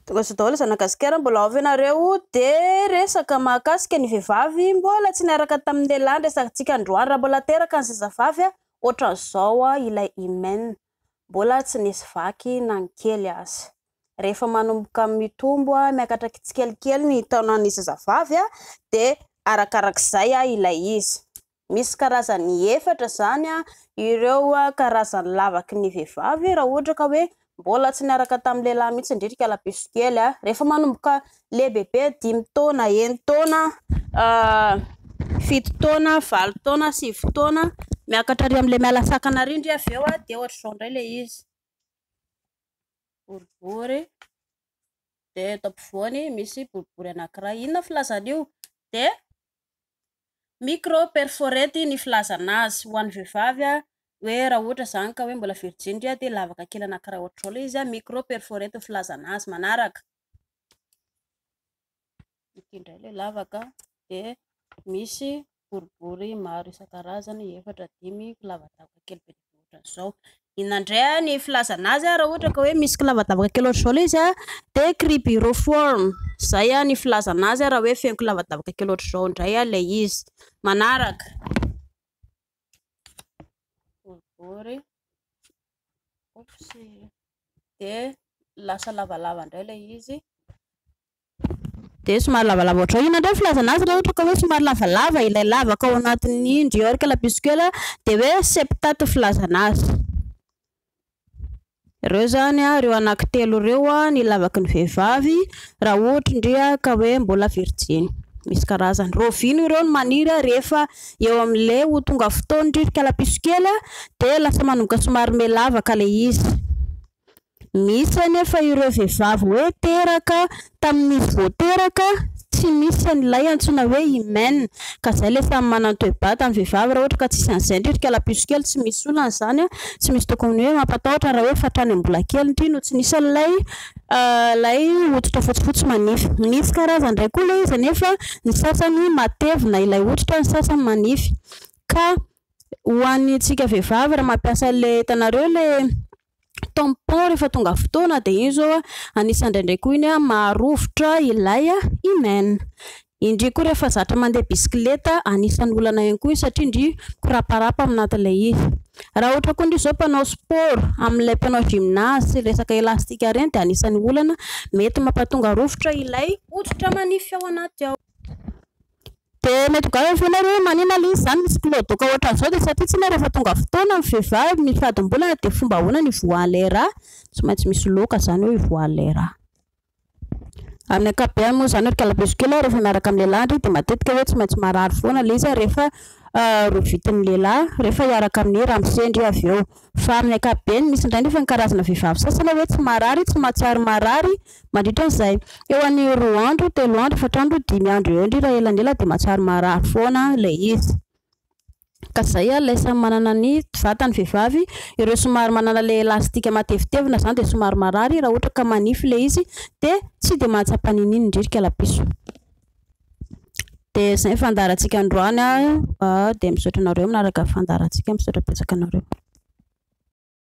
Tonga sao daholo zanaka gasikara mbola ao ve nareo de resaka mahakasika ny vehivavy mbola tsy niaraka tamin'ny lehilahy ny resakantsika androany raha mbola teraka ny zazavavy a otran'izao a ilay hymen mbola tsy nisy vaky na ny kely aza rehefa manomboka mitombo a miakatra kitsikelikely ny taonan'ny zazavavy a de arakarak'izay a ilay izy Misy karazany efatra izany ireo karazan'ny lavaky ny vehivavy raha ohatra ka hoe mbola tsy niaraka tamin'ny lehilahy mihitsy indrindra ikala piso kely. Rehefa manomboka lehibebe dimy taona, eny taona, fito taona, valo taona, sivy taona, miakatra ary amin'ilay miala sakana ary indray avy eo dia ohatr'izao indray ilay izy, boribory dia eto ampovoany misy boribory anankiray, inona filazana io? dia Micro perforate ny filazana azy ho an'ny vehivavy hoe raha ohatra izany ka hoe mbola virjiny indray dia lavaka kely anakiray ohatr'izao ilay izy, micro perforate ny filazana azy manaraka, ity indray ilay lavaka dia misy boribory maro isan-karazany efatra, dimy, lavadavaka kely be dia be. Ohatran'izao, inona indray ny filazana azy raha ohatra ka hoe misy kilavadavaka kely ohatr'izao ilay izy dia cribriform, izay ny filazana azy raha hoe feno kilavadavaka kely ohatr'izao indray ilay izy. Manaraka, boribory, dia lasa lavalava indray ilay izy. Dia somary lavalava ohatrao. Inona indray ny filazana azy raha ohatra ka hoe somary lavalava ilay lavaka ao anatin'ny Ndiorca lapiscula dia hoe septate ny filazana azy. Ireo izany ireo anakitelo ireo ny lavaky ny vehivavy raha ohatra ndry ka hoe mbola virjiny. Misy karazany. Rovino ireo no maniry rehefa eo amin'ilay ho tonga fotoan'ny rivotra lapiscula dia lasa manomboka somary me lavaka ilay izy. Misy anefa ireo vehivavy hoe teraka tamin'izy vao teraka tsy misy an'ilay antsoina hoe hymen ka zay ilay samy manan-toebata ny vehivavy raha ohatra ka tsisy an'izay ndry ry kalapiso kely tsy misy olana izany an! tsy misy tokony hoe mampatahotra raha hoe fatrany amin'ny mbola kely ndry no tsy nisy an'ilay ilay hoditra fotsifotsy manify. Misy karazany indray koa ilay izy anefa ny sasany matevina ilay hoditra ny sasany manify ka ho an'ny antsika vehivavy raha mampiasa ilay hitanareo ilay tampon rehefa tonga fotoana dia iny zao anisany indraindray koa iny maharovitra ilay imen indry koa rehefa zatra mandeha bisikileta anisany olana ihany koa satria indry koraparapa amin'atin'ilay izy raha ohatra koa indry zao mpanao sport amin'ilay mpanao gymnase resaka elastika ireny dia anisany olana mety mampatonga rovitra ilay hoditra manify ao anaty ao Dia mety ho gaga avy eo nareo hoe manina lzy izany misy kiloadoaka ohatran'izao dia satria tsinona rehefa tonga fotoana ny vehivavy mifadim-bolana dia fomba ahoana ny hivoahan'ilay rà? Tsy maintsy misy loka izany eo hivoahan'ilay rà. Amin'ny ankapobeny moa izany ry kalabeso kely a, rehefa miaraka amin'ny lehilahy ndry dia matetika hoe tsy maintsy marary foana lzy rehefa rovitin'ny lehilahy, rehefa hiaraka amin'ny ramose ndry avy eo. Fa amin'ny ankapobeny, misy indray nefa ny karazana vehivavy sasany hoe tsy marary, tsy mahatsiaro marary mandritra an'izay eo an'ny roa andro, telo andro, efatra andro, dimy andro eo indrindra elanela dia mahatsiaro marary foana ilay izy. Ka izay ary ilay samy manana ny vatany vehivavy, ireo somary manana ilay elastika matevitevina izany dia somary marary, raha ohatra ka manify ilay izy dia tsy dia mahatsapa n'inon'inona indrindra kalapiso. Dia izay ny fandaharantsika androany. Dia misaotra anareo manaraka ny fandaharantsika. Misaotra betsaka anareo.